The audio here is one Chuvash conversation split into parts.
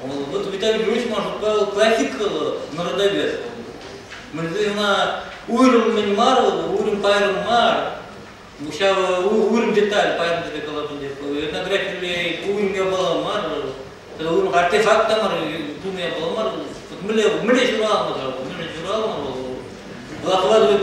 Вот Виталий Григорьевич шутпа плохих народовед. Мы ӑна уйрӑм мӗн мар, уйрӑм пайрӑм мар. Ҫав уйрӑм деталь пайрӑм тебе калатӑн деп. Этнографилле уйрӑм япала мар, уйрӑм артефакт та мар, тум япала мар. Мӗнле мӗнле ҫуралмӑ ҫав, мӗнле ҫуралмӑ вӑл. Вакладывать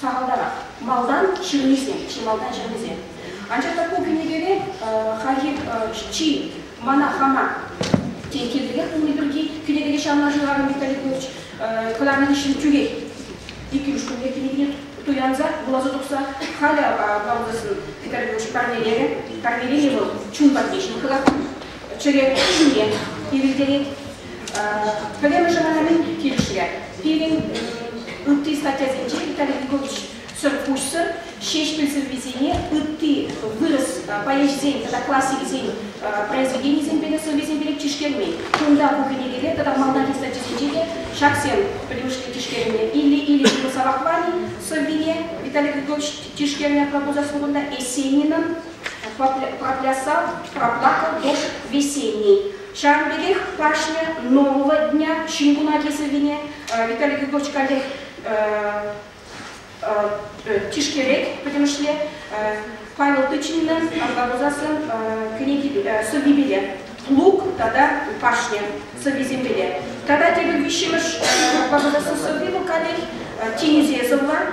Сахалтарах малтан ҫырнисем, чи малтан ҫырнисем. Анчах та ку кӗнекере хайхи чи Мана хама тен кирлӗрех пулни пирки кӗнекере ҫавна шырарӑм Виталий Петрович кӑларнӑ хыҫҫӑн тӳрех иккӗмӗш кунне кӗнекене туянса вуласа тухса халӗ Баулӑсӑн Виталий Петрович парнелерӗ. Парнеленӗ вӑл чун патне ҫывхӑрать, чӗре ҫине ирӗлтерет. Пӗрремӗшӗ вара килӗшрӗ. Пирӗн ытти статьясенче Виталий Егорович сӑрпуҫсӑр Ҫеҫпӗл сӑввисене ытти вырӑс поэчӗсен тата классикӗсен произведенийӗсемпе те сӑввисемпе те тишкермен. Кунта ку кӗнекере тата малтанхи статьясенче те ҫаксем пӗлӳшли тишкернӗ. Илле-илле ҫырӑнсавах мар-и сӑввине Виталий Григорьевич тишкернӗ пробужа сургунта Есенинӑн Проклясав, проплакал дождь весенний Ҫавӑн пекех кашни нового дня ҫын кунаки сӑввине Виталий Григорьевич каллех тишкерет, пӗтӗмӗшле Павел Тычиннӑн Арка пусассӑн сӑввипеле, Лук тата Пашня сӑввисемпеле. Тата тепӗр виҫҫӗмӗш Пападасӑн сӑвви вӑл каллех тинӗсе сӑвлан.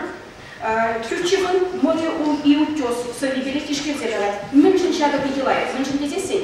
Тютчевӑн Море и утес сӑввипеле тишкерсе калать. Мӗншӗн ҫакӑ питӗ лайӑх? Мӗншӗн тесессӗн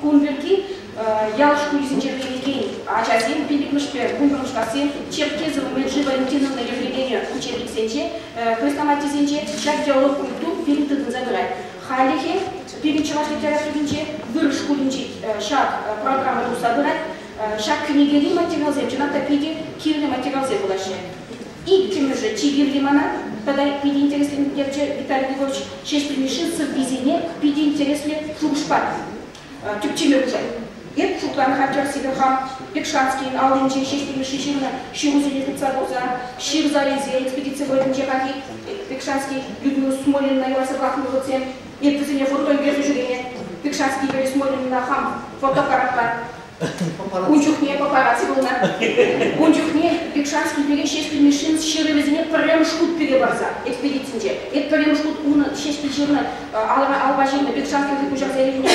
Кун пирки ял шкулӗсенче вӗренекен ачасем пиллӗкмӗшпе вунпӑрмӗшкассем Черкезы умӗн Жива Антиновна юрлекенӗ учебниксенче, хрестоматисенче ҫак яллӑ культур пирӗн тытӑнса тӑрать. Хальлӗхе пирӗн чӑваш литературинче вырӑс шкулӗнче ҫак программа тухса пырать. Ҫак кӗнекери материалсем чӑнах та питӗ кирлӗ материалсем пулаҫҫӗ. Иккӗмӗшӗ чи кирли мана тата питӗ интереслентерчӗ Виталий Львович Ҫеҫпӗл Мишин сӑввисене питӗ интереслӗ шухӑшпа тӗпчеме пушать. Эп шутлан хантер сивӗ хам Пекшанскийӗн аллинче Ҫеҫпӗл Мишши ҫырнӑ ҫырусене тытса курса, ҫыр зарисем, экспедици вӑйӗнче хальхи Пекшанский Людмила Смолинна ярса пӑрахнӑ хутсем, эп вӗсене вӑркӑн персе ҫӳрене Пекшанский Юрий Смолинна хам фотоаппаратпа Ун чухне папарацци пулнӑ. Ун чухне Бекшанский пире Ҫеҫпӗл Мишшин ҫырӑвӗсене пӗрремӗш хут пире парса экспедицинче, эп пӗрремӗш хут унӑн Ҫеҫпӗл ҫырнӑ алӑра алпа ҫырнӑ Бекшанскинсем куҫарса илнӗ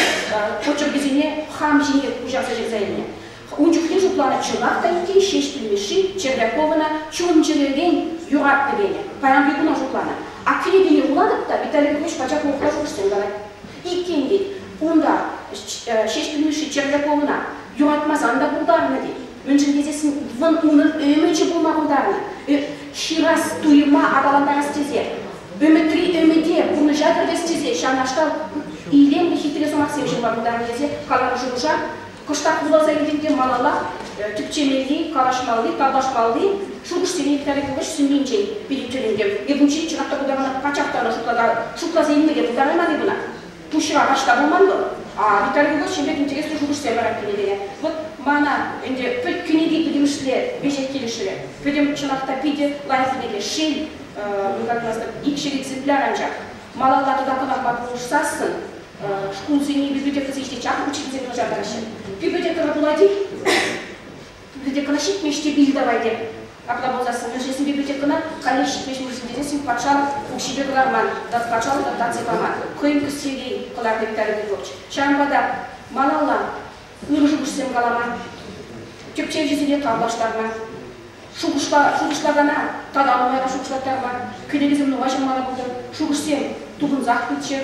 почеркӗсене хам ҫинех куҫарса ҫырса илнӗ. Ун чухне шутланӑ чӑнах та иккен Ҫеҫпӗл Мишши Червяковӑна чун-чӗререн юратнӑ тенӗ. Паянхи куна шутланӑ. Акрине вилнӗ вулатӑп та Виталий Петрович пачах урӑхла шухӑш тем калать. Иккен тет. Унта Ҫеҫпӗл Мишши чирлӗ пулнӑ, юратмасан та пултарнӑ тет. Мӗншӗн тесессӗн вӑн унӑн ӗмӗчӗ пулма пултарнӑ. Ҫырас туйӑма аталантарас тесе, ӗмӗтри ӗмӗте пурнӑҫа кӗртес тесе ҫавнашкал илемлӗ хитре сӑмахсем ҫырма пултарнӑ тесе каланӑ шухӑша кӑштах вуласа илтӗм те малалла тӗпчемелли, калаҫмалли, тавлашмалли шухӑшсене итальяпулӑш сӳннинчен пире тӗлӗнтӗм. Эп унччен чӑнах та пултарама пачах та ӑна шутласа илме те пултарайман-и кӑна? пуҫра раҫта пулман вӑл. А Виталий Иванович ҫемпе интереслӗ шухӑшсем вара кӗнекене. Вӑт мана ӗнтӗ пӗлт кӗнеке пӗтӗмӗшле веҫех килӗшрӗ. Пӗтӗм чӑнах та питӗ лайӑххине те шел, икҫӗр экземпляр анчах. Малалла тата кӑнахпа пулӑшсассӑн шкулсене ӳкерте тесе ҫити чаплӑ учительсем кӑшартаҫҫӗ. Тӳпе те тӑрӑ пулать-и? Бибилтекӑна ҫитмӗҫ те ил давай те. Апла пулсассӑн мӗншесен библиотекӑна каллех ҫитмӗҫ мешӗн тесен патшалӑх укҫипе кӑларман тата патшалӑх та станци паман. Хӑйӗн тус-Сергей кӑларнӑ Виталий Петрович. Ҫавӑнпа та малалла ырӑ-шухӑшсем калама, тӗпчевҫӗсене тавлаштарма, шухӑшлакана тата нумайран шухӑшлаттарма кӗнекесем нумай ҫырмалла пултӑр, шухӑшсем тупӑнсах пыччӑр.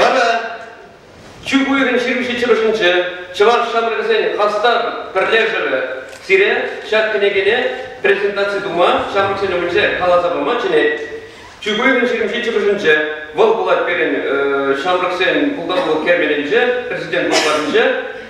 Лара чӳк уйӑхӗн ҫирӗмҫи чӑрӑшӗнче чӑваш ҫамрӑкӗсен хастар пӗрлешӗвӗ сире ҫак кӗнекене презентаци тума, ҫамрӑксен умӗнче каласа пама чӗнет. Чӳк уйӑхӗн ҫирӗмҫи чӑрӑшӗнче вӑл пулать пирӗн ҫамрӑксен пултарулӑх керменӗнче, президент пултарӑнче.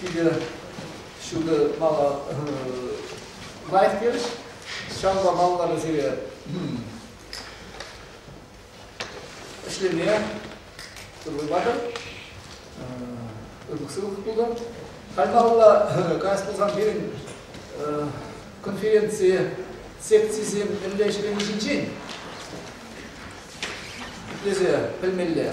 питӗ ҫутӑ мала лайӑх терӗҫ. Ҫавӑнпа малалла сире ӗҫлеме ырлатӑр. Ырлӑх-сывлӑх пултӑр. Халь малалла каяс пулсан пирӗн конференци секцисем мӗнле ӗҫлени ҫинчен итлесе пӗлмелле.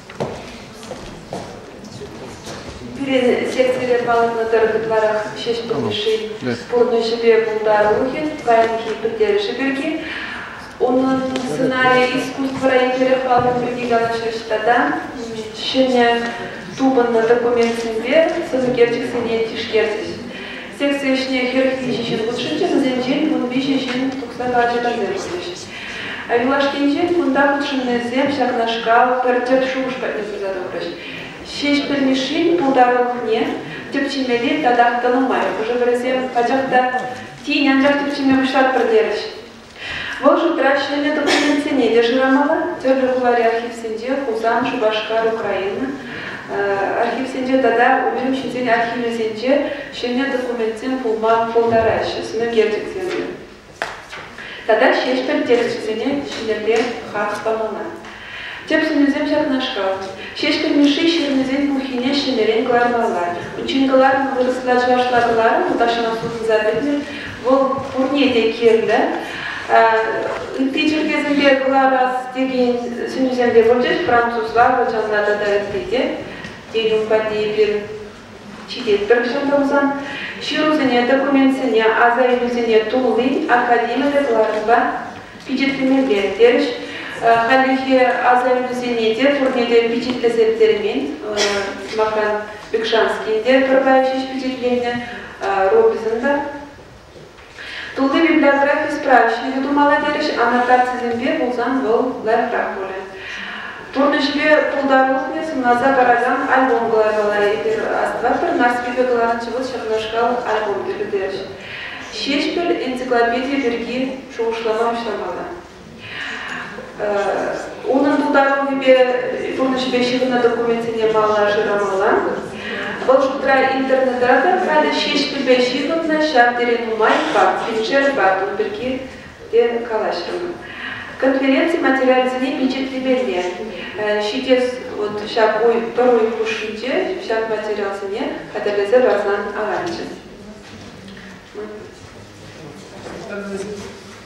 Пирӗн секцире палӑртнӑ тӑрӑх ытларах ҫеҫпӗл йышшин пурнӑҫӗпе пултарулӑхӗ, паянхи пӗлтерӗшӗ пирки. Унӑн сценарийӗ искусствӑра еплерех палӑрни пирки калаҫрӗҫ тата ҫӗнӗ тупӑннӑ документсемпе сӑнӳкерчӗксене тишкерчӗҫ. Секци ӗҫне хӗрӗх виҫӗ ҫын хутшӑнчӗ, вӗсенчен вун виҫӗ ҫын тухса карчӑкансем пулчӗҫ. Юлашкинчен кунта хутшӑннисем ҫакнашкал пӗр тӗп шухӑш патне пырса тухрӗҫ. Ҫеҫпӗл Мишшин пултарулӑхне тӗпчемелли татах тӑнӑ май хӑшӗ-пӗрисем пачах та тин анчах тӗпчеме пуҫлатпӑр терӗҫ. Вӑл шутра ҫӗнӗ документсене те шырамалла, тӗрлӗ хулари архивсенче, Хусан, Шупашкар, Украина архивсенче тата унран ҫынсен архивӗсенче ҫӗнӗ документсем пулма пултараҫҫӗ сӑнӳкерчӗксемпе. Тата ҫеҫпӗл терӗсене ҫӗнӗрен хак памана. Тӗп сӗнӳсем ҫакнашкал. Ҫеҫпӗл Мишши ҫырнисен пуххине ҫӗнӗрен кӑлармалла. Унччен кӑларнӑ вырӑсла чӑвашла кӑларӑм тахҫанах сутӑнса пӗтнӗ. Вӑл пурне те кирлӗ. Ытти чӗлхесемпе кӑларас текен сӗнӳсем те пулчӗҫ, французла, ачалла тата ытти те. Тен, ун патне эпир ҫитетпӗр кӑҫал тӑрсан, ҫырусене, документсене, аса илӳсене тулли академиллӗ класспа пичетлемелле, терӗҫ. Хальлӗхе аса илӳсене те пурне те пичетлесе пӗтермен. Сӑмахран, Бекшанскийӗн те пӗр лайӑх ҫеҫ пичетленнӗ, Робинсӑн та. Тулли библиографи справки те тумалла терӗҫ, аннотацисемпе пулсан вӑл лайӑхрах пулӗ. Пурнӑҫпе пултарулӑхне сӑнласа паракан альбом кӑлармалла. Эпир астӑватпӑр, Нарспипе кӑларнӑччӗ вӑл ҫакнашкал альбом тӗлӗ терӗҫ. Ҫеҫпӗл энциклопедийӗ пирки шухӑшлама пуҫламалла. Унӑн пултаруллипе пурнӑҫӗпе ҫыхӑннӑ документсене палла шырамалла. Вӑл шутра интернетра та халӗ ҫеҫпӗлпе ҫыхӑннӑ ҫав тери нумай факт, финджерпа тун пирки те калаҫрӑмӑр. Конференци материалӗсене пичетлемелле. Ҫитес вот ҫак уй, пӗр уй хушшинче ҫак материалсене хатӗрлесе парсан аванччӗ.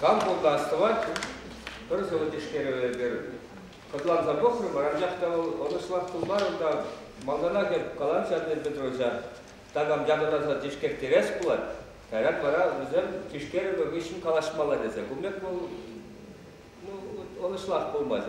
Кам пултӑ астӑвать, пӗр сӑвӑ тишкерӗвӗпӗр хӑтланса пӑхрӑмӑр, анчах та вӑл ӑнӑҫлах пулмарӑм та малтанах эп каланчӗ Антон Петровича, такам янӑраса тишкертерес пулать, кайран вара вӗсем тишкерӗвӗ хыҫҫӑн калаҫмалла тесе. Кун пек вӑл ну, ӑнӑҫлах пулмасть.